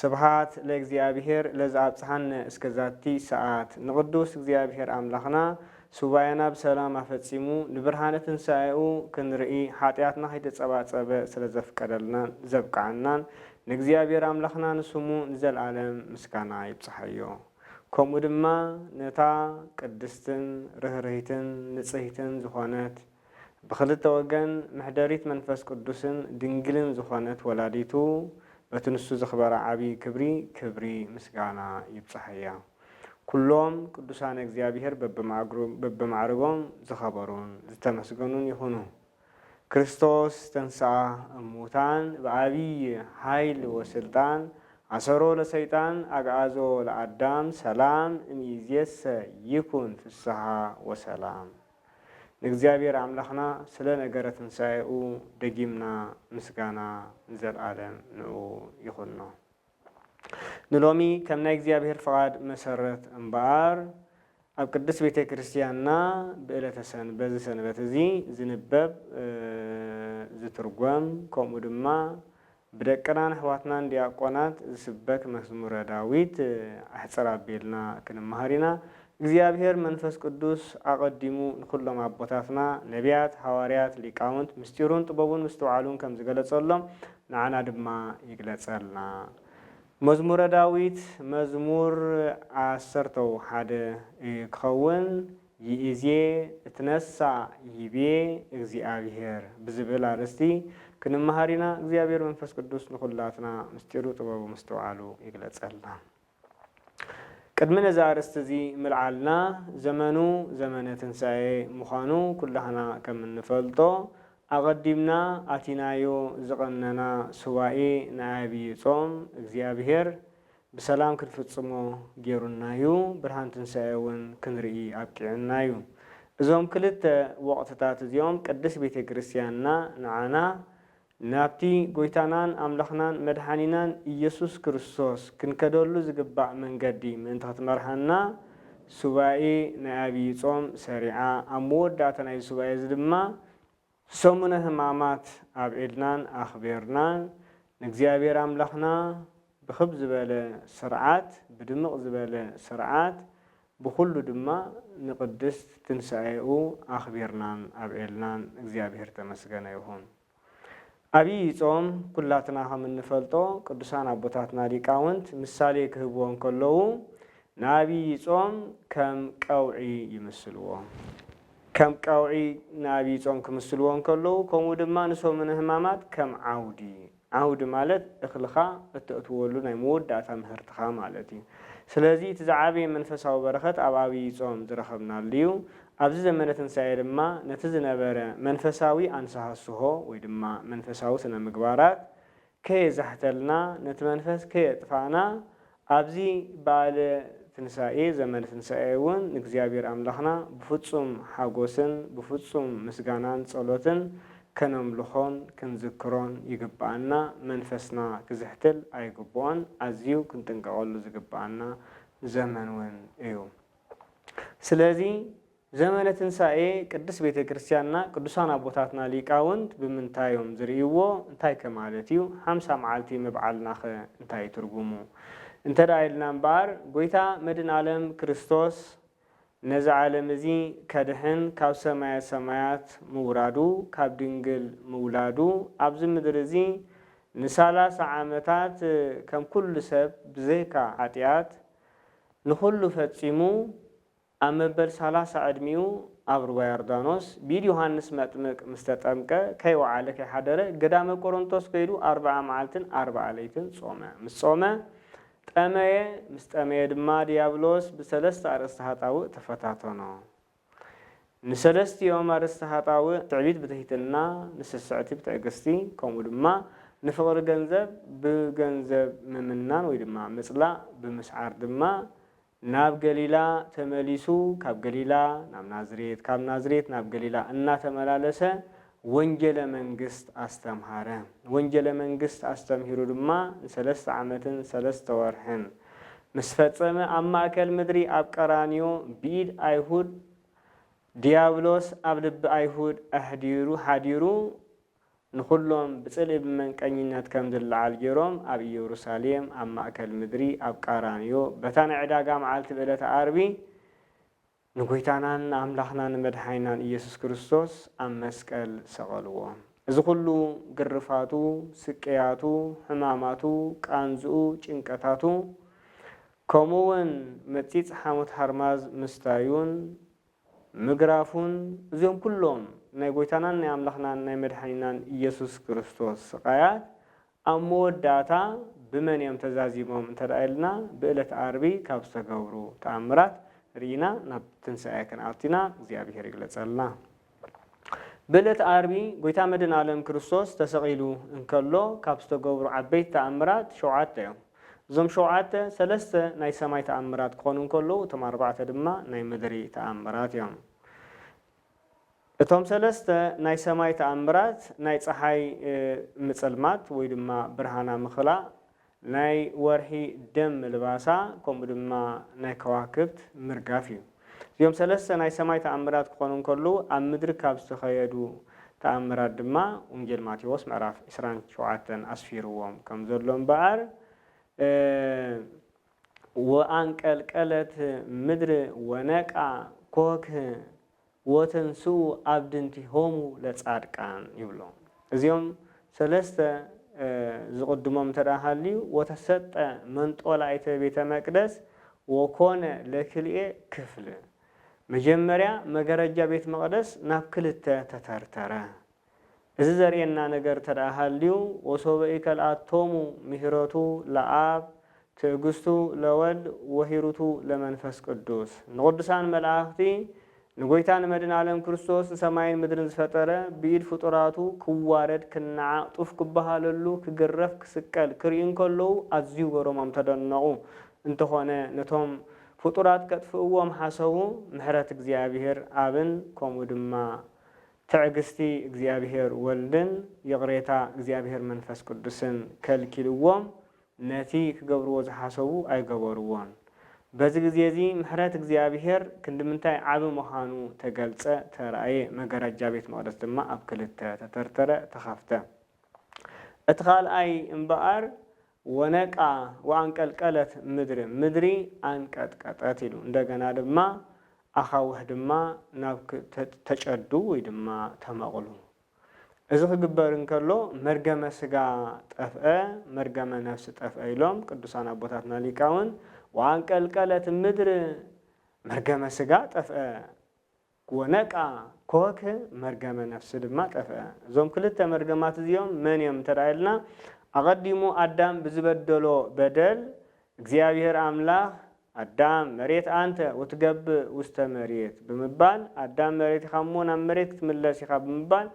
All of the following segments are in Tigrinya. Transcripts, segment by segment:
ስብሓት ለእግዚኣብሔር ለዝኣብጽሓነ እስከ ዛቲ ሰዓት። ንቅዱስ እግዚኣብሔር ኣምላኽና ሱባኤና ብሰላም ኣፈጺሙ ንብርሃነ ትንሳኤኡ ክንርኢ ሓጢኣትና ከይተጸባጸበ ስለ ዘፍቀደልናን ዘብቅዓናን ንእግዚኣብሔር ኣምላኽና ንስሙ ንዘልኣለም ምስጋና ይብጽሓዮ። ከምኡ ድማ ነታ ቅድስትን ርህርህይትን ንጽህይትን ዝኾነት ብኽልተ ወገን ምሕደሪት መንፈስ ቅዱስን ድንግልን ዝኾነት ወላዲቱ በቲ ንሱ ዘኽበራ ዓቢይ ክብሪ ክብሪ ምስጋና ይብጽሓያ። ኩሎም ቅዱሳነ እግዚኣብሔር በብማዕርጎም ዝኸበሩን ዝተመስገኑን ይኹኑ። ክርስቶስ ተንሥኣ እሙታን ብዓቢይ ኃይል ወሥልጣን ኣሰሮ ለሰይጣን ኣግኣዞ ለኣዳም ሰላም እምይእዜሰ ይኩን ፍሥሓ ወሰላም። ንእግዚኣብሔር ኣምላኽና ስለ ነገረ ትንሣኤኡ ደጊምና ምስጋና ንዘልዓለም ንእኡ ይኹኖ። ንሎሚ ከም ናይ እግዚኣብሔር ፍቓድ መሰረት እምበኣር ኣብ ቅድስት ቤተ ክርስቲያንና ብእለተ ሰን በዚ ሰንበት እዚ ዝንበብ ዝትርጎም ከምኡ ድማ ብደቅናን ኣሕዋትናን ዲያቆናት ዝስበክ መዝሙረ ዳዊት ኣሕጽር ኣቢልና ክንመሃር ኢና። እግዚኣብሔር መንፈስ ቅዱስ ኣቐዲሙ ንኹሎም ኣቦታትና ነቢያት፣ ሃዋርያት፣ ሊቃውንት ምስጢሩን ጥበቡን ምስትውዓሉን ከም ዝገለጸሎም ንዓና ድማ ይግለጸልና። መዝሙረ ዳዊት መዝሙር ዓሰርተው ሓደ ክኸውን ይእዜ እትነሣእ ይቤ እግዚኣብሔር ብዝብል ኣርእስቲ ክንመሃር ኢና እግዚኣብሔር መንፈስ ቅዱስ ንኩላትና ምስጢሩ ጥበቡ ምስትውዓሉ ይግለጸልና ቅድሚ ነዚ ኣርእስቲ እዚ ምልዓልና ዘመኑ ዘመነ ትንሣኤ ምዃኑ ኩላህና ከም እንፈልጦ ኣቐዲምና ኣቲናዮ ዝቐነና ሱባኤ ናይ ኣብይ ጾም እግዚኣብሔር ብሰላም ክንፍጽሞ ጌሩና ዩ፣ ብርሃን ትንሳኤ ውን ክንርኢ ኣብቂዑና ዩ። እዞም ክልተ ወቕትታት እዚኦም ቅድስት ቤተ ክርስቲያንና ንዓና ናብቲ ጎይታናን ኣምላኽናን መድሓኒናን ኢየሱስ ክርስቶስ ክንከደሉ ዝግባእ መንገዲ ምእንቲ ክትመርሓና ሱባኤ ናይ ኣብይ ጾም ሰሪዓ ኣብ መወዳእታ ናይዚ ሱባኤ እዚ ድማ ሰሙነ ህማማት ኣብ ኤድናን ኣኽቤርና ንእግዚኣብሔር ኣምላኽና ብክብ ዝበለ ሥርዓት ብድምቕ ዝበለ ሥርዓት ብኩሉ ድማ ንቅድስት ትንሣኤኡ ኣኽቢርናን ኣብዔልናን እግዚኣብሔር ተመስገነ ይኹን። ኣብይ ጾም ኩላትና ከም እንፈልጦ ቅዱሳን ኣቦታትና ሊቃውንት ምሳሌ ክህብዎ እንከለዉ ንኣብይ ጾም ከም ቀውዒ ይምስልዎ። ከም ቀውዒ ንኣብይ ጾም ክምስልዎ እንከለዉ ከምኡ ድማ ንሰሙነ ህማማት ከም ዓውዲ፣ ዓውዲ ማለት እኽልኻ እተእትወሉ ናይ መወዳእታ ምህርትኻ ማለት እዩ። ስለዚ እቲ ዝዓበየ መንፈሳዊ በረኸት ኣብ ኣብይ ጾም ዝረኸብናሉ እዩ። ኣብዚ ዘመነ ትንሳኤ ድማ ነቲ ዝነበረ መንፈሳዊ ኣንሰሃስሆ ወይ ድማ መንፈሳዊ ስነ ምግባራት ከየዛሕተልና ነቲ መንፈስ ከየጥፋእና ኣብዚ በኣለ ትንሳኤ ዘመነ ትንሳኤ እውን ንእግዚኣብሔር ኣምላኽና ብፍጹም ሓጎስን ብፍጹም ምስጋናን ጸሎትን ከነምልኾን ክንዝክሮን ይግበኣና መንፈስና ክዝሕትል ኣይግብኦን ኣዝዩ ክንጥንቀቐሉ ዝግበኣና ዘመን እውን እዩ ስለዚ ዘመነ ትንሣኤ ቅድስት ቤተ ክርስቲያንና ቅዱሳን ኣቦታትና ሊቃውንት ብምንታይ እዮም ዝርእይዎ? እንታይከ ማለት እዩ? ሓምሳ መዓልቲ ምብዓልናኸ እንታይ እዩ ትርጉሙ? እንተ ኢልና እምበኣር ጐይታ መድን ዓለም ክርስቶስ ነዚ ዓለም እዚ ከድኅን ካብ ሰማየ ሰማያት ምውራዱ ካብ ድንግል ምውላዱ ኣብዚ ምድሪ እዚ ንሳላሳ ዓመታት ከም ኩሉ ሰብ ብዘይካ ኃጢኣት ንኹሉ ፈጺሙ ኣብ መበል ሰላሳ ዕድሚኡ ኣብ ሩባ ዮርዳኖስ ብኢድ ዮሃንስ መጥምቅ ምስ ተጠምቀ ከይወዓለ ከይሓደረ ገዳመ ቆሮንቶስ ከይዱ ኣርብዓ መዓልትን ኣርብዓ ለይትን ጾመ። ምስ ጾመ ጠመየ ምስ ጠመየ ድማ ድያብሎስ ብሰለስተ ኣርእስተ ሃጣውእ ተፈታተኖ። ንሰለስቲኦም ኣርእስተ ሃጣውእ ትዕቢት ብትሕትና፣ ንስስዕቲ ብትዕግስቲ ከምኡ ድማ ንፍቅሪ ገንዘብ ብገንዘብ ምምናን ወይ ድማ ምጽላእ ብምስዓር ድማ ናብ ገሊላ ተመሊሱ ካብ ገሊላ ናብ ናዝሬት ካብ ናዝሬት ናብ ገሊላ እናተመላለሰ ወንጌለ መንግሥት ኣስተምሃረ። ወንጌለ መንግሥት ኣስተምሂሩ ድማ ንሰለስተ ዓመትን ሰለስተ ወርሕን ምስ ፈጸመ ኣብ ማእከል ምድሪ ኣብ ቀራንዮ ብኢድ ኣይሁድ ዲያብሎስ ኣብ ልቢ ኣይሁድ ኣሕዲሩ ሓዲሩ ንዅሎም ብጽልኢ ብመንቀኝነት ከም ዝለዓል ገይሮም ኣብ ኢየሩሳሌም፣ ኣብ ማእከል ምድሪ፣ ኣብ ቃራንዮ፣ በታ ናይ ዕዳጋ መዓልቲ ብዕለተ ዓርቢ ንጐይታናን ኣምላኽናን መድሓኒናን ኢየሱስ ክርስቶስ ኣብ መስቀል ሰቐልዎ። እዚ ዅሉ ግርፋቱ፣ ስቅያቱ፣ ሕማማቱ፣ ቃንዝኡ፣ ጭንቀታቱ፣ ከምኡውን መጺጽ ሓሞት ሓርማዝ ምስታዩን፣ ምግራፉን እዚኦም ኩሎም ናይ ጎይታናን ናይ ኣምላኽናን ናይ መድሓኒናን ኢየሱስ ክርስቶስ ስቃያት ኣብ መወዳእታ ብመን እዮም ተዛዚሞም እንተ ኢልና ብእለት ኣርቢ ካብ ዝተገብሩ ተኣምራት ሪኢና ናብ ትንሳኤ ክንኣቱ ኢና እግዚኣብሔር ይግለጸልና ብእለት ኣርቢ ጎይታ መድን ኣለም ክርስቶስ ተሰቂሉ እንከሎ ካብ ዝተገብሩ ዓበይቲ ተኣምራት ሸውዓተ እዮም። እዞም ሸውዓተ ሰለስተ ናይ ሰማይ ተኣምራት ክኾኑ እንከለዉ እቶም ኣርባዕተ ድማ ናይ ምድሪ ተኣምራት እዮም። እቶም ሰለስተ ናይ ሰማይ ተኣምራት ናይ ጸሓይ ምጽልማት ወይ ድማ ብርሃና ምኽላእ፣ ናይ ወርሒ ደም ምልባሳ ከምኡ ድማ ናይ ከዋክብት ምርጋፍ እዩ። እዚኦም ሰለስተ ናይ ሰማይ ተኣምራት ክኾኑ እንከለዉ ኣብ ምድሪ ካብ ዝተኸየዱ ተኣምራት ድማ ወንጌል ማቴዎስ ምዕራፍ ዕስራን ሸውዓተን ኣስፊርዎም ከም ዘሎ እምበኣር ወኣንቀልቀለት ምድር ወነቃ ኮክህ ወተንስኡ ኣብድንቲሆሙ ለጻድቃን ይብሎም። እዚኦም ሰለስተ ዝቕድሞም እንተ ሃልዩ፣ ወተሰጠ መንጦላይተ ቤተ መቅደስ ወኮነ ለክልኤ ክፍል፣ መጀመርያ መገረጃ ቤት መቕደስ ናብ ክልተ ተተርተረ። እዚ ዘርእየና ነገር እንተ ሃልዩ፣ ወሶበ ኢከልኣቶሙ ምሂረቱ ለኣብ፣ ትእግስቱ ለወልድ ወሂሩቱ ለመንፈስ ቅዱስ፣ ንቕዱሳን መላእኽቲ ንጐይታ ንመድህናለም ክርስቶስ ንሰማይን ምድርን ዝፈጠረ ብኢድ ፍጡራቱ ክዋረድ ክናዓቅ ጡፍ ክበሃለሉ ክግረፍ ክስቀል ክርእዩ እንከለዉ ኣዝዩ ገሮሞም ተደነቁ እንተኾነ ነቶም ፍጡራት ከጥፍእዎም ሓሰቡ ምሕረት እግዚኣብሔር ኣብን ከምኡ ድማ ትዕግስቲ እግዚኣብሔር ወልድን ይቅሬታ እግዚኣብሔር መንፈስ ቅዱስን ከልኪልዎም ነቲ ክገብርዎ ዝሓሰቡ ኣይገበርዎን። በዚ ግዜ እዚ ምሕረት እግዚኣብሄር ክንዲ ምንታይ ዓቢ ምዃኑ ተገልጸ፣ ተራእየ፣ መገረጃ ቤት መቕደስ ድማ ኣብ ክልተ ተተርተረ፣ ተኸፍተ። እቲ ካልኣይ እምበኣር ወነቃ ወኣንቀልቀለት ምድር፣ ምድሪ ኣንቀጥቀጠት ኢሉ። እንደገና ድማ ኣኻውሕ ድማ ናብ ተጨዱ ወይ ድማ ተመቕሉ። እዚ ክግበር እንከሎ መርገመ ስጋ ጠፍአ መርገመ ነፍሲ ጠፍአ ኢሎም ቅዱሳን ኣቦታትና ሊቃውን ወኣንቀልቀለት ምድር መርገመ ስጋ ጠፍአ ወነቅኣ ኮክ መርገመ ነፍሲ ድማ ጠፍአ። እዞም ክልተ መርገማት እዚኦም መን እዮም እንተ ኢልና ኣቐዲሙ ኣዳም ብዝበደሎ በደል እግዚኣብሔር ኣምላኽ ኣዳም መሬት ኣንተ ወትገብእ ውስተ መሬት ብምባል ኣዳም መሬት ኢኻ እሞ ናብ መሬት ክትምለስ ኢኻ ብምባል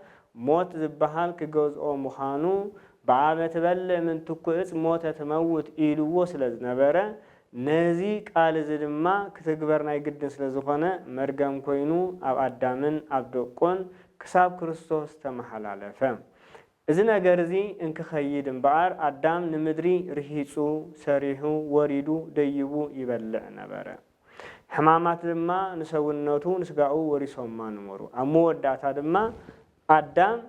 ሞት ዝበሃል ክገዝኦ ምዃኑ ብዓመ ትበልዕ ምን ትኩዕጽ ሞተ ትመውት ኢሉዎ ስለ ዝነበረ ነዚ ቃል እዚ ድማ ክትግበር ናይ ግድን ስለ ዝኾነ መርገም ኮይኑ ኣብ ኣዳምን ኣብ ደቁን ክሳብ ክርስቶስ ተመሓላለፈ። እዚ ነገር እዚ እንክኸይድ እምበኣር፣ ኣዳም ንምድሪ ርሂጹ፣ ሰሪሑ፣ ወሪዱ፣ ደይቡ ይበልዕ ነበረ። ሕማማት ድማ ንሰውነቱ፣ ንስጋኡ ወሪሶማ ነበሩ። ኣብ መወዳእታ ድማ ኣዳም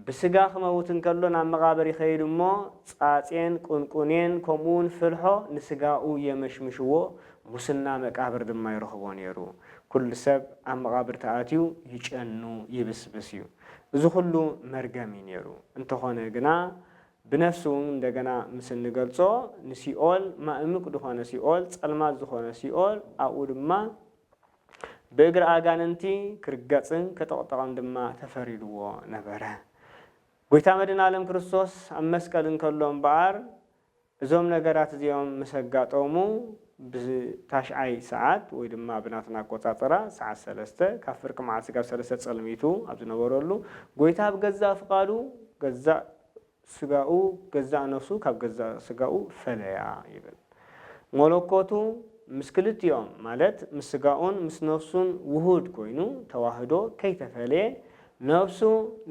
ብስጋ ክመውት እንከሎ ናብ መቓብር ይኸይድ እሞ ጻጼን ቁንቁኔን ከምኡውን ፍልሖ ንስጋኡ የመሽምሽዎ፣ ሙስና መቃብር ድማ ይረኽቦ ነይሩ። ኩሉ ሰብ ኣብ መቓብር ተኣትዩ ይጨኑ፣ ይብስብስ እዩ። እዚ ኩሉ መርገም እዩ ነይሩ እንተኾነ ግና ብነፍሲ ውን እንደገና ምስ እንገልጾ ንሲኦል ማእምቅ ድኾነ ሲኦል ጸልማት ዝኾነ ሲኦል ኣብኡ ድማ ብእግሪ ኣጋንንቲ ክርገጽን ከጠቅጠቅን ድማ ተፈሪድዎ ነበረ ጎይታ መድን ኣለም ክርስቶስ ኣብ መስቀል እንከሎ እምበኣር እዞም ነገራት እዚኦም ምስ ኣጋጠሙ ብታሽዓይ ሰዓት ወይ ድማ ብናትና ኣቆጻጽራ ሰዓት ሰለስተ ካብ ፍርቂ መዓልቲ ስጋብ ሰለስተ ጸልሚቱ ኣብ ዝነበረሉ ጎይታ ብገዛእ ፍቃዱ ገዛእ ስጋኡ ገዛእ ነፍሱ ካብ ገዛእ ስጋኡ ፈለያ ይብል ሞሎኮቱ ምስ ክልቲኦም ማለት ምስ ስጋኡን ምስ ነፍሱን ውሁድ ኮይኑ ተዋህዶ ከይተፈለየ ነፍሱ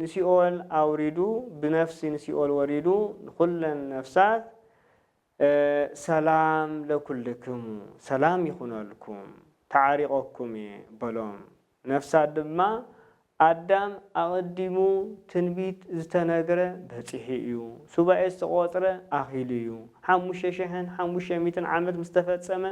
ንሲኦል ኣውሪዱ ብነፍሲ ንሲኦል ወሪዱ ንኩለን ነፍሳት ሰላም ለኩልክሙ ሰላም ይኩነልኩም ተዓሪቀኩም እየ በሎም ነፍሳት ድማ ኣዳም ኣቀዲሙ ትንቢት ዝተነግረ በፂሑ እዩ ሱባኤ ዝተቆፅረ ኣኪሉ እዩ ሓሙሽተ ሽሕን ሓሙሽተ ሚእትን ዓመት ምስ ተፈፀመ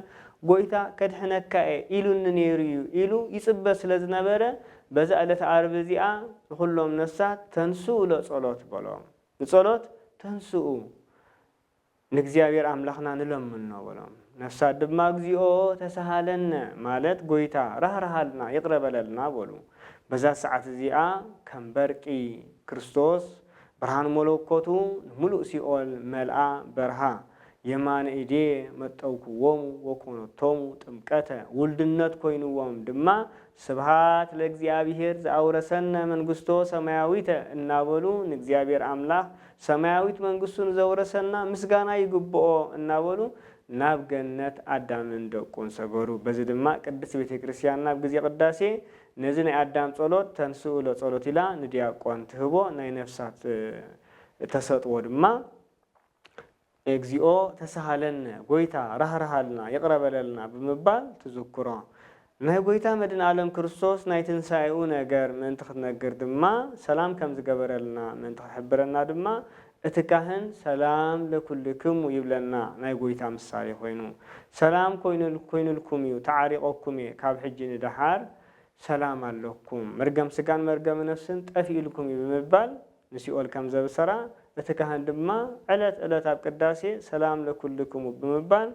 ጎይታ ከድሕነካ እየ ኢሉኒ ነይሩ እዩ ኢሉ ይፅበ ስለ ዝነበረ በዛ ዕለተ ዓርቢ እዚኣ ንዅሎም ነፍሳት ተንሥኡ ለጸሎት በሎም። ንጸሎት ተንሥኡ ንእግዚኣብሔር ኣምላኽና ንለምኖ በሎም። ነፍሳት ድማ እግዚኦ ተሣሃለነ ማለት ጐይታ ራህርሃልና ይቕረ በለልና በሉ። በዛ ሰዓት እዚኣ ከም በርቂ ክርስቶስ ብርሃን መለኮቱ ንምሉእ ሲኦል መልኣ በርሃ። የማነ ኢዴ መጠውክዎሙ ወኮነቶሙ ጥምቀተ ውልድነት ኮይንዎም ድማ ስብሃት ለእግዚኣብሔር ዘኣውረሰነ መንግሥቶ ሰማያዊተ እናበሉ ንእግዚኣብሔር ኣምላኽ ሰማያዊት መንግሥቱ ንዘውረሰና ምስጋና ይግብኦ እናበሉ ናብ ገነት ኣዳምን ደቁን ሰገሩ። በዚ ድማ ቅድስት ቤተ ክርስቲያንና ኣብ ጊዜ ቅዳሴ ነዚ ናይ ኣዳም ጸሎት ተንሥኡ ለጸሎት ኢላ ንዲያቆን ትህቦ ናይ ነፍሳት ተሰጥዎ ድማ እግዚኦ ተሳሃለነ ጎይታ ራህርሃልና ይቕረ በለልና ብምባል ትዝክሮ። ናይ ጎይታ መድንኣለም ክርስቶስ ናይ ትንሳኤኡ ነገር ምእንቲ ክትነግር ድማ ሰላም ከም ዝገበረልና ምእንቲ ክሕብረና ድማ እቲ ካህን ሰላም ለኵልክሙ ይብለና ናይ ጎይታ ምሳሌ ኮይኑ ሰላም ኮይኑልኩም እዩ ተዓሪቐኩም እየ ካብ ሕጂ ንደሓር ሰላም ኣለኩም መርገም ስጋን መርገም ነፍስን ጠፊኡልኩም እዩ ብምባል ንሲኦል ከም ዘብሰራ፣ እቲ ካህን ድማ ዕለት ዕለት ኣብ ቅዳሴ ሰላም ለኵልክሙ ብምባል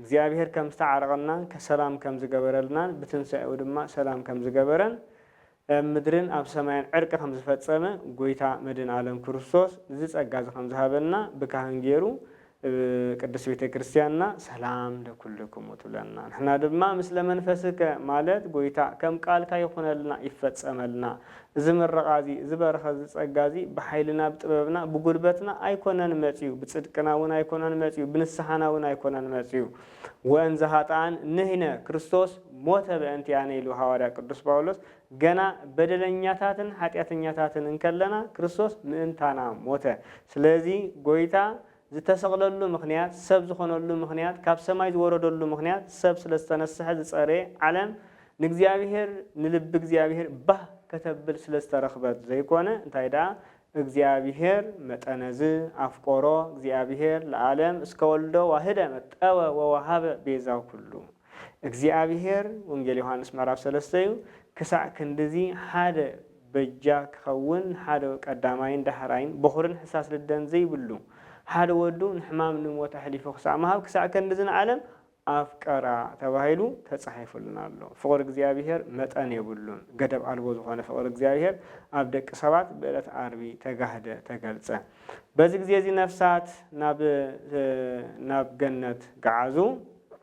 እግዚኣብሔር ከም ዝተዓረቐናን ሰላም ከም ዝገበረልናን ብትንሣኤኡ ድማ ሰላም ከም ዝገበረን እብ ምድርን ኣብ ሰማይን ዕርቂ ከም ዝፈጸመ ጐይታ መድን ዓለም ክርስቶስ እዚ ጸጋ እዚ ከም ዝሃበና ብካህን ገይሩ እብ ቅድስት ቤተ ክርስቲያንና ሰላም ለኵልክሙ ትብለና ንሕና ድማ ምስለ መንፈስከ ማለት ጐይታ ከም ቃልካ ይኹነልና ይፈጸመልና እዚ ምረቓ እዚ እዚ በረኸት እዚ ጸጋ እዚ ብሓይልና ብጥበብና ብጉልበትና ኣይኮነን መጺኡ ብጽድቅና እውን ኣይኮነን መጺኡ ብንስሓና እውን ኣይኮነን መጺኡ ወእንዘ ኃጥኣን ንሕነ ክርስቶስ ሞተ በእንቲኣነ ኢሉ ሃዋርያ ቅዱስ ጳውሎስ ገና በደለኛታትን ሓጢኣተኛታትን እንከለና ክርስቶስ ምእንታና ሞተ። ስለዚ ጎይታ ዝተሰቕለሉ ምኽንያት፣ ሰብ ዝኾነሉ ምኽንያት፣ ካብ ሰማይ ዝወረደሉ ምኽንያት ሰብ ስለ ዝተነስሐ ዝጸረየ ዓለም ንእግዚኣብሔር ንልቢ እግዚኣብሔር ባህ ከተብል ስለ ዝተረኽበት ዘይኮነ እንታይ ደኣ እግዚኣብሔር መጠነዝ ኣፍቆሮ እግዚኣብሔር ለዓለም እስከ ወልዶ ዋህደ መጠወ ወወሃበ ቤዛ ኩሉ እግዚኣብሄር ወንጌል ዮሓንስ ምዕራፍ ሰለስተ እዩ ክሳዕ ክንድዚ ሓደ በጃ ክኸውን ሓደ ቀዳማይን ዳህራይን በኹርን ሕሳስ ልደን ዘይብሉ ሓደ ወዱ ንሕማም ንሞት ኣሕሊፉ ክሳዕ ምሃብ ክሳዕ ክንድዚ ንዓለም ኣፍቀራ ተባሂሉ ተጻሒፉልና ኣሎ ፍቕሪ እግዚኣብሄር መጠን የብሉን ገደብ ኣልቦ ዝኾነ ፍቕሪ እግዚኣብሄር ኣብ ደቂ ሰባት ብእለት ኣርቢ ተጋህደ ተገልጸ በዚ ግዜ እዚ ነፍሳት ናብ ናብ ገነት ገዓዙ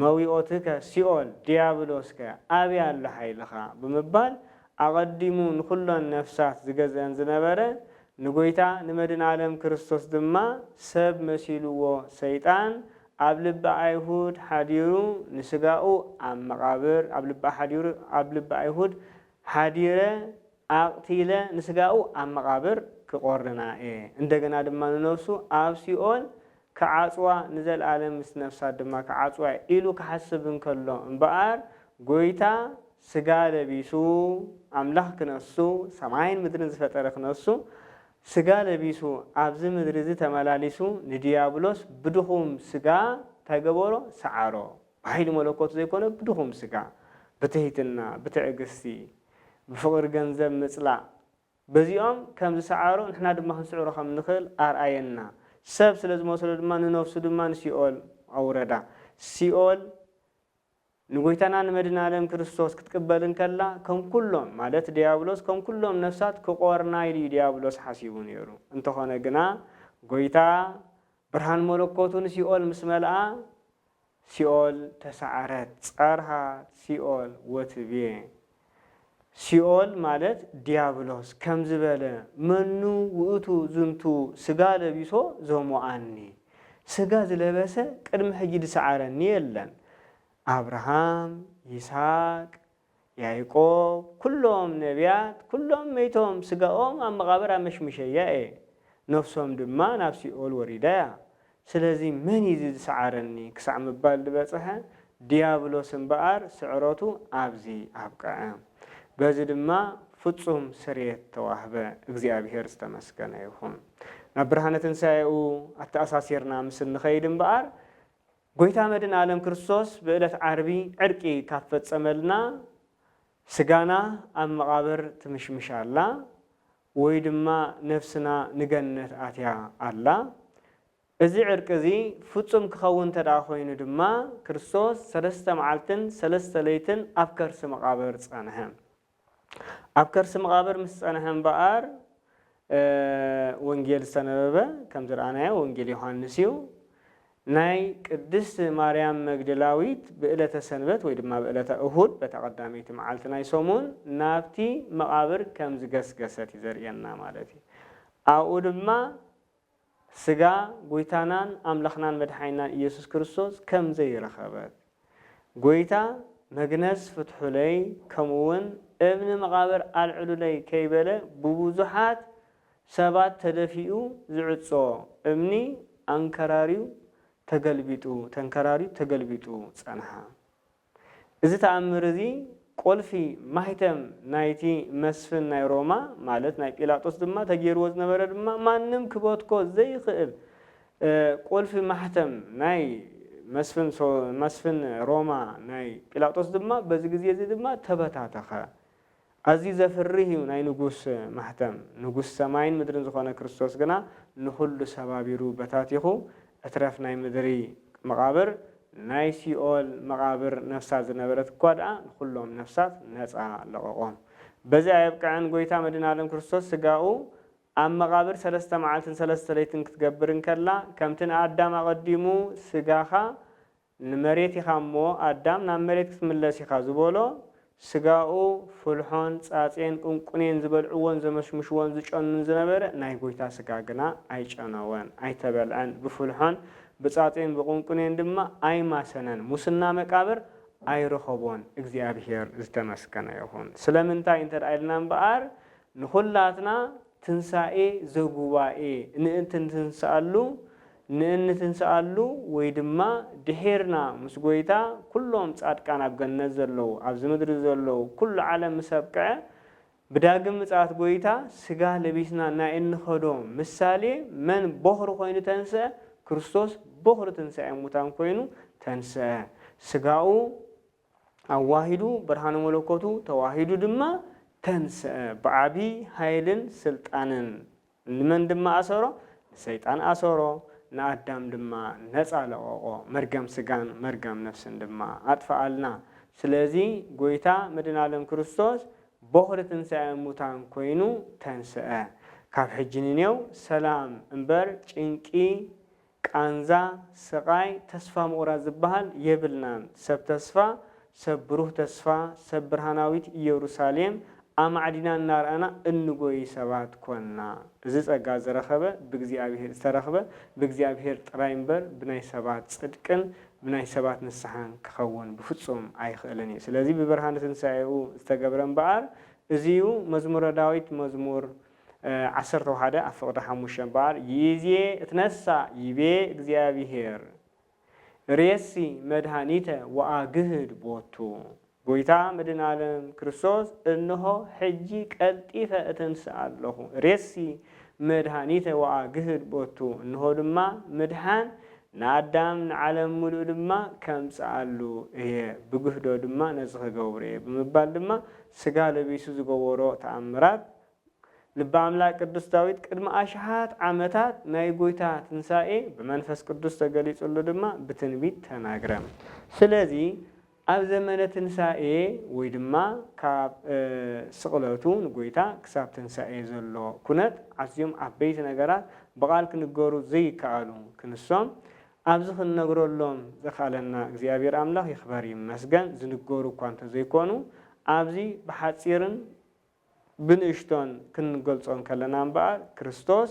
መዊኦትከ ሲኦል ድያብሎስከ ኣበይ ኣሎ ሓይልኻ ብምባል ኣቐዲሙ ንኹሎን ነፍሳት ዝገዝእን ዝነበረ ንጎይታ ንመድን ኣለም ክርስቶስ ድማ ሰብ መሲልዎ ሰይጣን ኣብ ልቢ ኣይሁድ ሓዲሩ ንስጋኡ ኣብ መቓብር ኣብ ልቢ ሓዲሩ ኣብ ልቢ ኣይሁድ ሓዲረ ኣቕቲለ ንስጋኡ ኣብ መቓብር ክቖርና እየ፣ እንደገና ድማ ንነፍሱ ኣብ ሲኦል ክዓጽዋ፣ ንዘልኣለም ምስ ነፍሳት ድማ ክዓጽዋ እየ ኢሉ ክሓስብ እንከሎ እምበኣር፣ ጐይታ ስጋ ለቢሱ፣ ኣምላኽ ክነሱ፣ ሰማይን ምድርን ዝፈጠረ ክነሱ፣ ስጋ ለቢሱ ኣብዚ ምድሪ እዚ ተመላሊሱ ንድያብሎስ ብድኹም ስጋ እንታይ ገበሮ? ሰዓሮ። ብሓይሊ መለኮት ዘይኮነ ብድኹም ስጋ ብትሕትና ብትዕግስቲ ብፍቕሪ ገንዘብ ምጽላእ በዚኦም ከም ዝሰዓሮ ንሕና ድማ ክንስዕሮ ከም እንኽእል ኣርኣየና። ሰብ ስለ ዝመስሎ ድማ ንነፍሱ ድማ ንሲኦል ኣውረዳ። ሲኦል ንጎይታና ንመድናለም ክርስቶስ ክትቅበል እንከላ ከም ኩሎም ማለት ድያብሎስ ከም ኩሎም ነፍሳት ክቆርና ኢሉ እዩ ድያብሎስ ሓሲቡ ነይሩ። እንተኾነ ግና ጎይታ ብርሃን መለኮቱ ንሲኦል ምስ መልኣ ሲኦል ተሳዕረት ጸርሃ ሲኦል ወትቤ ሲኦል ማለት ዲያብሎስ ከምዚ በለ መኑ ውእቱ ዝንቱ ሥጋ ለቢሶ ዘሞኣኒ ሥጋ ዝለበሰ ቅድሚ ሕጂ ዝሰዓረኒ የለን ኣብርሃም ይስሐቅ ያእቆብ ኵሎም ነብያት ኵሎም መይቶም ስጋኦም ኣብ መቓብር ኣመሽሚሸያ እየ፣ ነፍሶም ድማ ናብ ሲኦል ወሪዳ እያ፣ ስለዚ መን እዩ እዚ ዝሰዓረኒ ክሳዕ ምባል ዝበጽሐ ድያብሎስ እምበኣር ስዕረቱ ኣብዚ ኣብቅዐ። በዚ ድማ ፍጹም ስርየት ተዋህበ። እግዚኣብሄር ዝተመስገነ ይኹን። ናብ ብርሃነ ትንሳኤኡ ኣተኣሳሲርና ምስ እንኸይድ እምበኣር፣ ጎይታ መድን ኣለም ክርስቶስ ብእለት ዓርቢ ዕርቂ ካብ ፈጸመልና ስጋና ኣብ መቓብር ትምሽምሽ ኣላ ወይ ድማ ነፍስና ንገነት ኣትያ ኣላ። እዚ ዕርቂ እዚ ፍጹም ክኸውን እንተድኣ ኮይኑ ድማ ክርስቶስ ሰለስተ መዓልትን ሰለስተ ለይትን ኣብ ከርሲ መቓብር ጸንሐ። ኣብ ከርሲ መቓብር ምስ ጸንሐ እምበኣር ወንጌል ዝተነበበ ከም ዝረኣናዮ ወንጌል ዮሃንስ እዩ። ናይ ቅድስት ማርያም መግደላዊት ብእለተ ሰንበት ወይ ድማ ብእለተ እሁድ በታ ቀዳመይቲ መዓልቲ ናይ ሰሙን ናብቲ መቓብር ከም ዝገስገሰት እዩ ዘርእየና ማለት እዩ። ኣብኡ ድማ ስጋ ጎይታናን ኣምላኽናን መድሓኒናን ኢየሱስ ክርስቶስ ከም ዘይረኸበት፣ ጎይታ መግነዝ ፍትሑለይ ከምኡውን እብኒ መቓብር ኣልዕሉለይ ከይበለ ብብዙሓት ሰባት ተደፊኡ ዝዕጾ እምኒ ኣንከራርዩ ተገልቢጡ ተንከራርዩ ተገልቢጡ ጸንሓ። እዚ ተኣምር እዚ ቁልፊ፣ ማኅተም፣ ናይቲ መስፍን ናይ ሮማ ማለት ናይ ጲላጦስ ድማ ተገይርዎ ዝነበረ ድማ ማንም ክበትኮ ዘይኽእል ቁልፊ፣ ማኅተም፣ ናይ መስፍን መስፍን ሮማ ናይ ጲላጦስ ድማ በዚ ግዜ እዚ ድማ ተበታተኸ። ኣዝዩ ዘፍርህ እዩ ናይ ንጉስ ማሕተም። ንጉስ ሰማይን ምድርን ዝኾነ ክርስቶስ ግና ንኹሉ ሰባቢሩ በታቲኹ እትረፍ ናይ ምድሪ መቓብር ናይ ሲኦል መቓብር ነፍሳት ዝነበረት እኳ ድኣ ንኹሎም ነፍሳት ነጻ ለቐቖም። በዚ ኣየብቅዐን ጎይታ መድን ኣለም ክርስቶስ ስጋኡ ኣብ መቓብር ሰለስተ መዓልትን ሰለስተ ለይትን ክትገብር እንከላ ከምቲ ንኣዳም ኣቐዲሙ ስጋኻ ንመሬት ኢኻ እሞ ኣዳም ናብ መሬት ክትምለስ ኢኻ ዝበሎ ስጋኡ ፍልሖን ጻጼን ቁንቁኔን ዝበልዕዎን ዘመሽምሽዎን ዝጨኑን ዝነበረ ናይ ጎይታ ስጋ ግና ኣይጨነወን ኣይተበልዐን ብፍልሖን ብጻጼን ብቁንቁኔን ድማ ኣይማሰነን ሙስና መቃብር ኣይረኸቦን እግዚኣብሔር ዝተመስገነ ይኹን ስለምንታይ እንተ ኢልና እምበኣር ንኹላትና ትንሣኤ ዘጉባኤ ንእንትንትንስኣሉ ንእንትንስኣሉ ወይ ድማ ድሒርና ምስ ጐይታ ኩሎም ጻድቃን ኣብ ገነት ዘለዉ ኣብዚ ምድሪ ዘለዉ ኩሉ ዓለም ምስ ኣብቅዐ ብዳግም ምጽኣት ጐይታ ስጋ ለቢስና ናይ እንኸዶ ምሳሌ መን ቦኽሪ ኮይኑ ተንስኣ ክርስቶስ ቦኽሪ ትንሳኤ ሙታን ኮይኑ ተንስኣ ስጋኡ ኣዋሂዱ ብርሃነ መለኮቱ ተዋሂዱ ድማ ተንሥአ ብዓቢይ ኃይልን ሥልጣንን ንመን ድማ ኣሰሮ ንሰይጣን ኣሰሮ ንኣዳም ድማ ነፃ ለቀቆ መርገም ሥጋን መርገም ነፍስን ድማ ኣጥፍኣልና ስለዚ ጎይታ መድኃኒዓለም ክርስቶስ ቦኽሪ ትንሣኤ ሙታን ኮይኑ ተንሥአ ካብ ሕጂ ንኔው ሰላም እምበር ጭንቂ ቃንዛ፣ ስቓይ፣ ተስፋ ምቑራጽ ዝበሃል የብልናን። ሰብ ተስፋ፣ ሰብ ብሩህ ተስፋ፣ ሰብ ብርሃናዊት ኢየሩሳሌም ኣማዕዲና እናርኣና እንጎዪ ሰባት ኰንና። እዚ ጸጋ ዝረኸበ ብእግዚኣብሔር ዝተረኽበ ብእግዚኣብሔር ጥራይ እምበር ብናይ ሰባት ጽድቅን ብናይ ሰባት ንስሓን ክኸውን ብፍጹም ኣይኽእልን እዩ። ስለዚ ብብርሃነ ትንሣኤኡ ዝተገብረ እምበኣር እዚ እዩ። መዝሙረ ዳዊት መዝሙር። ዓሰርተ ወሓደ ኣብ ፍቕዲ ሓሙሽተ እምበኣር ይእዜ እትነሣእ ይቤ እግዚኣብሔር ርእየሲ መድኃኒተ ወኣግህድ ቦቱ ጐይታ መድኃኔዓለም ክርስቶስ እንሆ ሕጂ ቀልጢፈ እትንሥእ ኣሎኹ ርእየሲ መድኃኒተ ወኣግህድ ቦቱ እንሆ ድማ ምድኃን ንኣዳም ንዓለም ምሉእ ድማ ከምጽኣሉ እየ ብግህዶ ድማ ነዚ ክገብሮ እየ ብምባል ድማ ሥጋ ለቢሱ ዝገበሮ ተኣምራት ልበ ኣምላክ ቅዱስ ዳዊት ቅድሚ ኣሽሓት ዓመታት ናይ ጎይታ ትንሣኤ ብመንፈስ ቅዱስ ተገሊጹሉ ድማ ብትንቢት ተናግረ። ስለዚ ኣብ ዘመነ ትንሣኤ ወይ ድማ ካብ ስቕለቱ ንጎይታ ክሳብ ትንሣኤ ዘሎ ኩነት ኣዝዮም ዓበይቲ ነገራት ብቓል ክንገሩ ዘይከኣሉ ክንሶም ኣብዚ ክንነግረሎም ዘኽኣለና እግዚኣብሔር ኣምላኽ ይኽበር ይመስገን ዝንገሩ እኳ እንተዘይኮኑ ኣብዚ ብሓጺርን ብንእሽቶን ክንገልጾ እንከለና እምበኣር፣ ክርስቶስ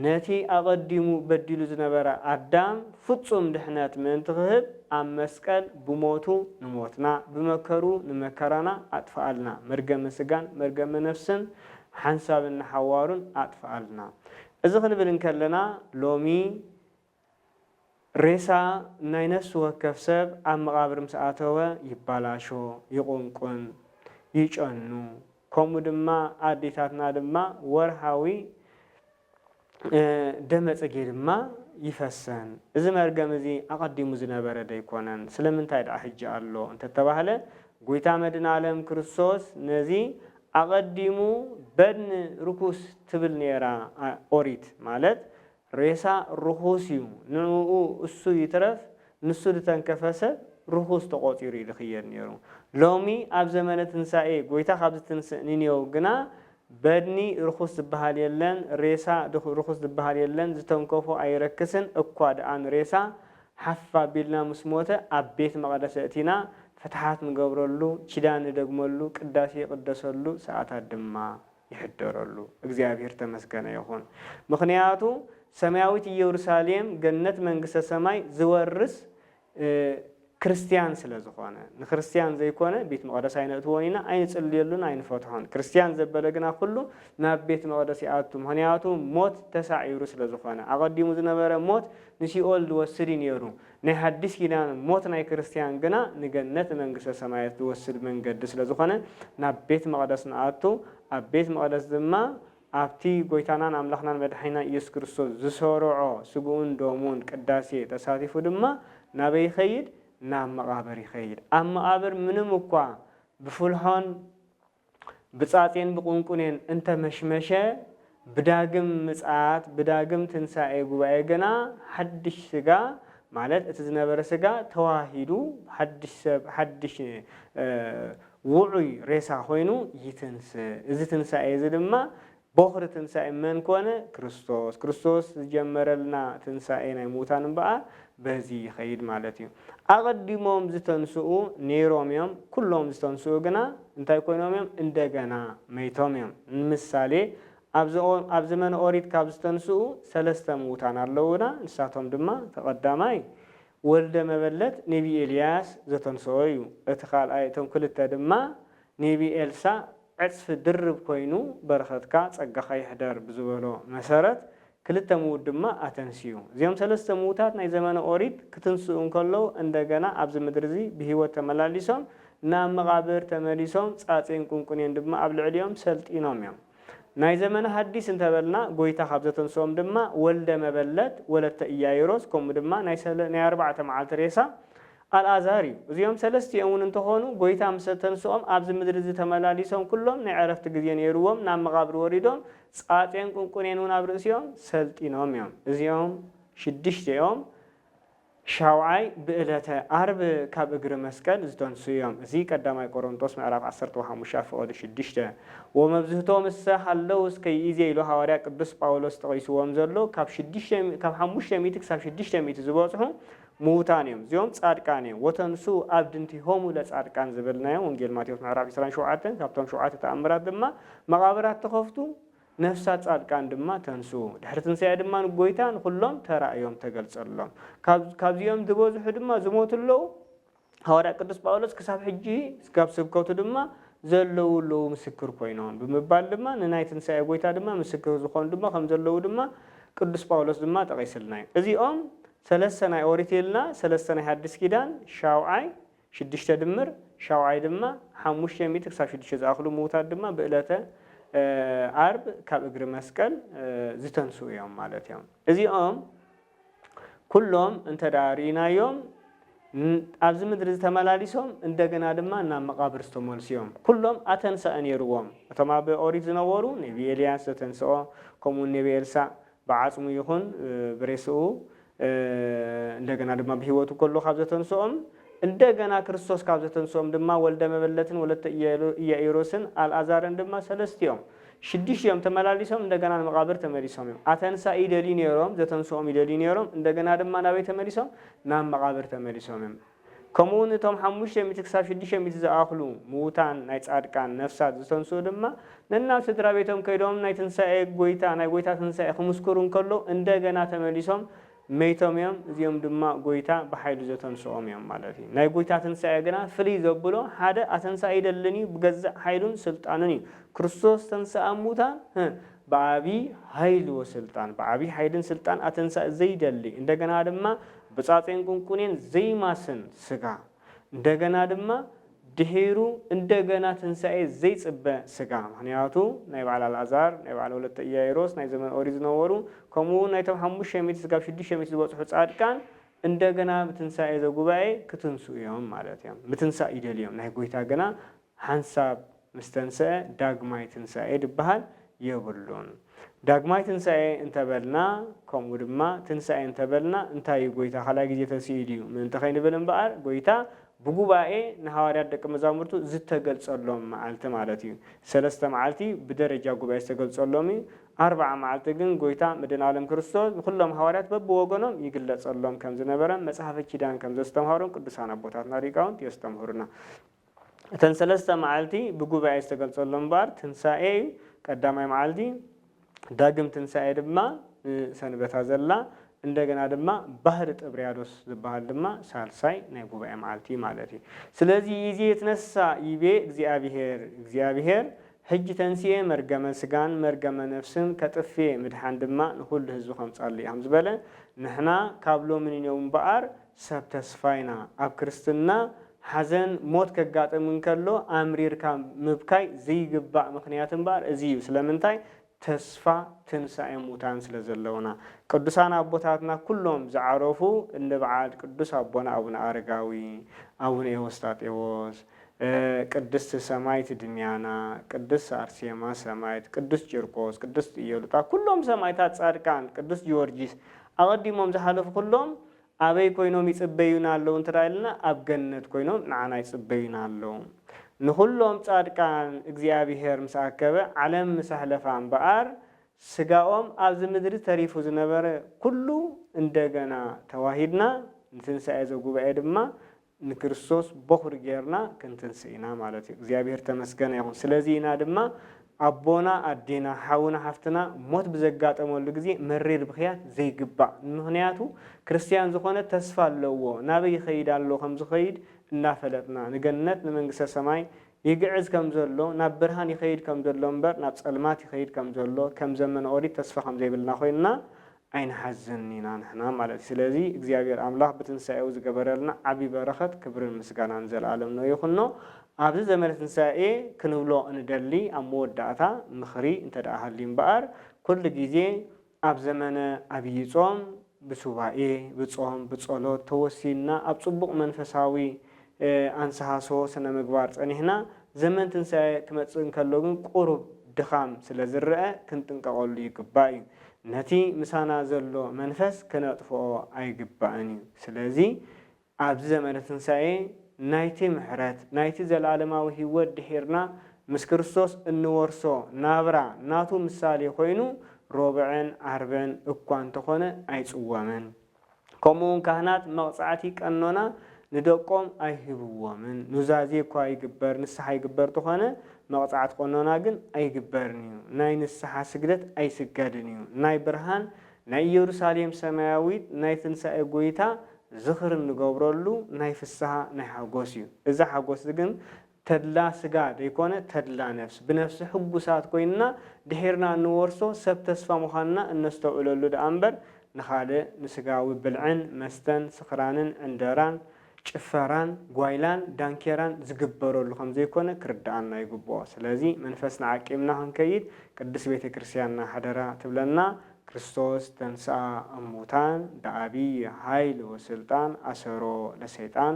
ነቲ ኣቐዲሙ በዲሉ ዝነበረ ኣዳም ፍጹም ድሕነት ምእንቲ ክህብ ኣብ መስቀል ብሞቱ ንሞትና፣ ብመከርኡ ንመከራና ኣጥፍኣልና። መርገመ ስጋን መርገመ ነፍስን ሓንሳብን ንሓዋሩን ኣጥፍኣልና። እዚ ክንብል እንከለና ሎሚ፣ ሬሳ ናይ ነፍሲ ወከፍ ሰብ ኣብ መቓብር ምስ ኣተወ ይባላሾ፣ ይቑንቁን፣ ይጨኑ። ከምኡ ድማ ኣዴታትና ድማ ወርሃዊ ደመ ጽጌ ድማ ይፈሰን። እዚ መርገም እዚ ኣቐዲሙ ዝነበረ ዶ ኣይኮነን? ስለምንታይ ደኣ ሕጂ ኣሎ እንተተባህለ ጎይታ መድህናለም ክርስቶስ ነዚ ኣቐዲሙ በድኒ ርኩስ ትብል ኔራ ኦሪት ማለት ሬሳ ርኹስ እዩ ንዕኡ እሱ ይትረፍ ንሱ ድተንከፈ ሰብ ርኹስ ተቖጺሩ ድኽየድ ኔሩ ሎሚ ኣብ ዘመነ ትንሳኤ ጎይታ ካብ ዝትንስእ ንኔው ግና በድኒ ርኹስ ዝብሃል የለን ሬሳ ርኹስ ዝብሃል የለን ዝተንከፎ ኣይረክስን እኳ ድኣ ንሬሳ ሓፍ ኣቢልና ምስ ሞተ ኣብ ቤት መቕደስ ኣእቲና ፍትሓት ንገብረሉ ኪዳን ንደግመሉ ቅዳሴ ይቕደሰሉ ሰኣታት ድማ ይሕደረሉ እግዚኣብሔር ተመስገነ ይኹን ምኽንያቱ ሰማያዊት ኢየሩሳሌም ገነት መንግስተ ሰማይ ዝወርስ ክርስትያን ስለ ዝኾነ ንክርስትያን ዘይኮነ ቤት መቕደስ ኣይነእትዎን ኢና ኣይንጽልየሉን ኣይንፈትሖን ክርስትያን ዘበለ ግና ኩሉ ናብ ቤት መቕደስ ይኣቱ ምኽንያቱ ሞት ተሳዒሩ ስለ ዝኾነ ኣቐዲሙ ዝነበረ ሞት ንሲኦል ዝወስድ እዩ ነይሩ ናይ ሓዲስ ኪዳን ሞት ናይ ክርስትያን ግና ንገነት ንመንግስተ ሰማያት ዝወስድ መንገዲ ስለ ዝኾነ ናብ ቤት መቕደስ ንኣቱ ኣብ ቤት መቕደስ ድማ ኣብቲ ጎይታናን ኣምላኽናን መድሓኒናን ኢየሱስ ክርስቶስ ዝሰረዖ ስግኡን ደሙን ቅዳሴ ተሳቲፉ ድማ ናበይ ይኸይድ ናብ መቓብር ይኸይድ ኣብ መቓብር ምንም እኳ ብፍልሖን ብጻጼን ብቁንቁኔን እንተ መሽመሸ፣ ብዳግም ምጽኣት፣ ብዳግም ትንሳኤ ጉባኤ ግና ሓድሽ ስጋ፣ ማለት እቲ ዝነበረ ስጋ ተዋሂዱ ሓድሽ ሰብ፣ ሓድሽ ውዑይ ሬሳ ኮይኑ ይትንስእ። እዚ ትንሳኤ እዚ ድማ ቦኽሪ ትንሣኤ መን ኮነ? ክርስቶስ። ክርስቶስ ዝጀመረልና ትንሣኤ ናይ ምዉታን እምበኣር በዚ ይኸይድ ማለት እዩ። ኣቐዲሞም ዝተንሥኡ ነይሮም እዮም፣ ኵሎም ዝተንሥኡ ግና እንታይ ኮይኖም እዮም? እንደገና መይቶም እዮም። ንምሳሌ ኣብ ኣብ ዘመነ ኦሪት ካብ ዝተንሥኡ ሠለስተ ምዉታን ኣለዉና፣ ንሳቶም ድማ እቲ ቐዳማይ ወልደ መበለት ኔቢይ ኤልያስ ዘተንሥኦ እዩ፣ እቲ ካልኣይ እቶም ክልተ ድማ ኔቢ ኤልሳ ዕጽፊ ድርብ ኮይኑ በረኸትካ ጸጋኻ ይሕደር ብዝበሎ መሰረት ክልተ ምዉት ድማ ኣተንሲኡ። እዚኦም ሰለስተ ምዉታት ናይ ዘመነ ኦሪት ክትንስኡ እንከለዉ እንደገና ኣብዚ ምድሪ እዚ ብህይወት ተመላሊሶም ናብ መቓብር ተመሊሶም ጻጼን ቁንቁኔን ድማ ኣብ ልዕሊኦም ሰልጢኖም እዮም። ናይ ዘመነ ሃዲስ እንተበልና ጎይታ ካብ ዘተንስኦም ድማ ወልደ መበለት ወለተ ኢያይሮስ ከምኡ ድማ ናይ ኣርባዕተ መዓልቲ ሬሳ ኣልኣዛር እዩ። እዚኦም ሰለስቲኦም እውን እንተኾኑ ጎይታ ምስ ኣተንስኦም ኣብዚ ምድሪ እዚ ተመላሊሶም ኩሎም ናይ ዕረፍቲ ግዜ ነይርዎም ናብ መቓብር ወሪዶም ጻጼን ቁንቁኔን እውን ኣብ ርእሲኦም ሰልጢኖም እዮም። እዚኦም ሽድሽቲኦም ሻውዓይ ብእለተ ኣርብ ካብ እግሪ መስቀል ዝተንስኡ እዮም። እዚ ቀዳማይ ቆሮንቶስ ምዕራፍ ዓሰርተ ወሓሙሻ ፍቐዱ ሽዱሽተ። ወመብዝህቶ ምሰ ሃለው እስከ ይእዜ ኢሉ ሃዋርያ ቅዱስ ጳውሎስ ጠቒስዎም ዘሎ ካብ ሽዱሽተ ካብ ሓሙሽተ ሚእቲ ክሳብ ሽዱሽተ ሚእቲ ዝበጽሑ ምዉታን እዮም እዚኦም ጻድቃን እዮም ወተንስኡ ኣብድንቲሆሙ ለጻድቃን ዝብል ናይ ወንጌል ማቴዎስ ምዕራፍ ዕስራን ሸውዓተን ካብቶም ሸውዓተ ተኣምራት ድማ መቓብራት ተኸፍቱ ነፍሳት ጻድቃን ድማ ተንስኡ ድሕሪ ትንሳኤ ድማ ንጎይታ ንኹሎም ተራእዮም ተገልጸሎም ካብ ካብዚኦም ዝበዝሑ ድማ ዝሞቱ ኣለዉ ሃዋርያ ቅዱስ ጳውሎስ ክሳብ ሕጂ ካብ ስብከቱ ድማ ዘለዉ ኣለዉ ምስክር ኮይኖም ብምባል ድማ ንናይ ትንሳኤ ጎይታ ድማ ምስክር ዝኾኑ ድማ ከም ዘለዉ ድማ ቅዱስ ጳውሎስ ድማ ጠቒስልና እዩ። እዚኦም ሰለስተ ናይ ኦሪት ኢልና ሰለስተ ናይ ሓዲስ ኪዳን ሻውዓይ ሽዱሽተ ድምር ሻውዓይ ድማ ሓሙሽተ ሚእቲ ክሳብ ሽዱሽተ ዝኣኽሉ ምዉታት ድማ ብእለተ ኣርብ ካብ እግሪ መስቀል ዝተንስኡ እዮም ማለት እዮም። እዚኦም ኩሎም እንተ ርኢናዮም ኣብዚ ምድሪ ዝተመላሊሶም እንደገና ድማ ናብ መቓብር ዝተመልሱ እዮም። ኩሎም ኣተንሳኢ ነይርዎም። እቶም ኣብ ኦሪት ዝነበሩ ነቢ ኤልያስ ዘተንስኦ ከምኡውን ነቢ ኤልሳእ ብዓጽሙ ይኹን ብሬስኡ እንደገና ድማ ብህይወቱ ከሎ ካብ ዘተንስኦም እንደገና ክርስቶስ ካብ ዘተንስኦም ድማ ወልደ መበለትን ወለተ ኢያኢሮስን ኣልኣዛርን ድማ ሰለስቲኦም ሽዱሽቲኦም ተመላሊሶም እንደገና ንመቓብር ተመሊሶም እዮም። ኣተንሳኢ ይደልዩ ነይሮም፣ ዘተንስኦም ይደልዩ ነይሮም፣ እንደገና ድማ ናበይ ተመሊሶም? ናብ መቓብር ተመሊሶም እዮም። ከምኡውን እቶም ሓሙሽተ ሚእቲ ክሳብ ሽዱሽተ ሚእቲ ዝኣኽሉ ምዉታን ናይ ጻድቃን ነፍሳት ዝተንስኡ ድማ ነናብ ስድራቤቶም ከይዶም ናይ ትንሳኤ ጎይታ ናይ ጎይታ ትንሳኤ ክምስክሩ እንከለዉ እንደገና ተመሊሶም መይቶም እዮም፣ እዚኦም ድማ ጐይታ ብሓይሉ ዘተንስኦም እዮም ማለት እዩ። ናይ ጐይታ ትንሳኤ ግና ፍልይ ዘብሎ ሓደ ኣተንሳኢ ኣይደልን እዩ፣ ብገዛእ ሓይሉን ስልጣኑን እዩ። ክርስቶስ ተንሥኣ እሙታን ብዓቢይ ሃይል ወሥልጣን፣ ብዓቢይ ሓይልን ሥልጣን ኣተንሣኢ ዘይደሊ፣ እንደገና ድማ ብጻጼን ቁንቁኔን ዘይማስን ሥጋ፣ እንደገና ድማ ድሒሩ እንደገና ትንሳኤ ዘይጽበ ስጋ ምኽንያቱ ናይ በዓል ኣልኣዛር ናይ በዓል ወለተ ኢያይሮስ ናይ ዘመነ ኦሪት ዝነበሩ ከምኡ ውን ናይቶም ሓሙሽተ ሚእቲ ስጋብ ሽዱሽተ ሚእቲ ዝበጽሑ ጻድቃን እንደገና ብትንሳኤ ዘጉባኤ ክትንስኡ እዮም ማለት እዮም ምትንሳእ ይደልዩ እዮም ናይ ጎይታ ግና ሓንሳብ ምስ ተንሰኣ ዳግማይ ትንሳኤ ድበሃል የብሉን። ዳግማይ ትንሳኤ እንተ በልና ከምኡ ድማ ትንሳኤ እንተ በልና እንታይ እዩ ጎይታ ካልኣይ ግዜ ተንሲኡ ድዩ ምእንቲ ከይንብል እምበኣር ጎይታ ብጉባኤ ንሃዋርያት ደቂ መዛሙርቱ ዝተገልጸሎም መዓልቲ ማለት እዩ ሰለስተ መዓልቲ ብደረጃ ጉባኤ ዝተገልጸሎም እዩ ኣርብዓ መዓልቲ ግን ጎይታ መድህናለም ክርስቶስ ንኹሎም ሃዋርያት በብወገኖም ይግለጸሎም ከም ዝነበረ መጽሐፈ ኪዳን ከም ዘስተምሃሩን ቅዱሳን ኣቦታትና ሊቃውንት የስተምህሩና። እተን ሰለስተ መዓልቲ ብጉባኤ ዝተገልጸሎም እምበኣር ትንሳኤ እዩ፣ ቀዳማይ መዓልቲ፣ ዳግም ትንሳኤ ድማ ንሰንበታ ዘላ፣ እንደገና ድማ ባህሪ ጥብርያዶስ ዝበሃል ድማ ሳልሳይ ናይ ጉባኤ መዓልቲ እዩ ማለት እዩ። ስለዚ ይእዜ ይትነሣእ ይቤ እግዚኣብሔር፣ እግዚኣብሔር ሕጂ ተንሲኤ መርገመ ሥጋን መርገመ ነፍስን ከጥፍኤ ምድሓን ድማ ንኹሉ ሕዝቢ ከምጻሉ እዩ ከም ዝበለ ንሕና ካብ ሎሚ ንኔው እምበኣር ሰብ ተስፋ ኢና፣ ኣብ ክርስትና ሓዘን ሞት ከጋጥም እንከሎ ኣምሪርካ ምብካይ ዘይግባእ ምኽንያት እምበኣር እዚ እዩ። ስለምንታይ? ተስፋ ትንሳኤ ሙታን ስለ ዘለውና። ቅዱሳን ኣቦታትና ኩሎም ዝዓረፉ እንደ በዓል ቅዱስ ኣቦና ኣቡነ ኣረጋዊ፣ ኣቡነ ኤዎስጣቴዎስ፣ ቅድስት ሰማይት ድሚያና፣ ቅድስት ኣርሴማ ሰማይት፣ ቅዱስ ቂርቆስ፣ ቅድስት ኢዮሉጣ ኩሎም ሰማይታት ጻድቃን፣ ቅዱስ ጊዎርጊስ ኣቐዲሞም ዝሓለፉ ኩሎም ኣበይ ኮይኖም ይጽበዩና ኣለዉ እንተ ኢልና ኣብ ገነት ኮይኖም ንዓና ይጽበዩና ኣለዉ። ንኹሎም ጻድቃን እግዚኣብሄር ምስ ኣከበ ዓለም ምስ ኣሕለፋ እምበኣር ስጋኦም ኣብዚ ምድሪ ተሪፉ ዝነበረ ኩሉ እንደገና ተዋሂድና ንትንሳኤ ዘጉባኤ ድማ ንክርስቶስ ቦኹሪ ጌርና ክንትንስእ ኢና ማለት እዩ። እግዚኣብሄር ተመስገነ ይኹን። ስለዚ ኢና ድማ ኣቦና፣ ኣዴና፣ ሓውና፣ ሓፍትና ሞት ብዘጋጠመሉ ግዜ መሪር ብኽያት ዘይግባእ። ምኽንያቱ ክርስትያን ዝኾነ ተስፋ ኣለዎ፣ ናበይ ይኸይድ ኣሎ ከም ዝኸይድ እናፈለጥና። ንገነት ንመንግስተ ሰማይ ይግዕዝ ከም ዘሎ፣ ናብ ብርሃን ይኸይድ ከም ዘሎ እምበር ናብ ጸልማት ይኸይድ ከም ዘሎ፣ ከም ዘመነ ኦሪት ተስፋ ከም ዘይብልና ኮይንና ኣይንሓዝን ኢና ንሕና ማለት እዩ ስለዚ እግዚኣብሔር ኣምላክ ብትንሳኤኡ ዝገበረልና ዓቢ በረከት ክብርን ምስጋናን ዘልኣለም ነው ይኩኖ ኣብዚ ዘመነ ትንሳኤ ክንብሎ እንደሊ ኣብ መወዳእታ ምክሪ እንተ ሃልዩ እምበኣር ኩሉ ግዜ ኣብ ዘመነ ኣብይ ጾም ብሱባኤ ብጾም ብጸሎት ተወሲንና ኣብ ጽቡቅ መንፈሳዊ ኣንሰሃስሆ ስነ-ምግባር ጸኒሕና፣ ዘመን ትንሳኤ ክመጽእ እንከሎ ግን ቁሩብ ድኻም ስለ ዝረኣ ክንጥንቀቐሉ ይግባእ እዩ። ነቲ ምሳና ዘሎ መንፈስ ክነጥፍኦ ኣይግባእን እዩ። ስለዚ ኣብዚ ዘመነ ትንሳኤ ናይቲ ምሕረት ናይቲ ዘለኣለማዊ ህይወት ድሒርና ምስ ክርስቶስ እንወርሶ ናብራ ናቱ ምሳሌ ኮይኑ ሮብዕን ዓርብን እኳ እንተኾነ ኣይጽወምን። ከምኡውን ካህናት መቕጻዕቲ ቀኖና ንደቆም ኣይህብዎምን፣ ኑዛዜ እኳ ይግበር ንስሓ ይግበር ተኾነ መቕጻዕቲ ቀኖና ግን ኣይግበርን እዩ፣ ናይ ንስሓ ስግደት ኣይስገድን እዩ፣ ናይ ብርሃን ናይ ኢየሩሳሌም ሰማያዊት ናይ ትንሣኤ ጐይታ ዝኽሪ እንገብረሉ ናይ ፍስሃ ናይ ሓጐስ እዩ፣ እዚ ሓጐስ እዚ ግን ተድላ ስጋ ደይኮነ ተድላ ነፍስ ብነፍሲ ሕጉሳት ኮይንና ድሒርና እንወርሶ ሰብ ተስፋ ምዃንና እነስተውዕለሉ ደኣ እምበር ንኻልእ ንስጋዊ ብልዕን መስተን ስኽራንን ዕንደራን ጭፈራን ጓይላን ዳንኬራን ዝግበረሉ ከም ዘይኮነ ክርደኣና ይግብኦ ስለዚ መንፈስና ዓቂብና ክንከይድ ቅድስት ቤተ ክርስቲያንና ሓደራ ትብለና ክርስቶስ ተንሥኣ እሙታን በዓቢይ ኃይል ወሥልጣን ኣሠሮ ለሰይጣን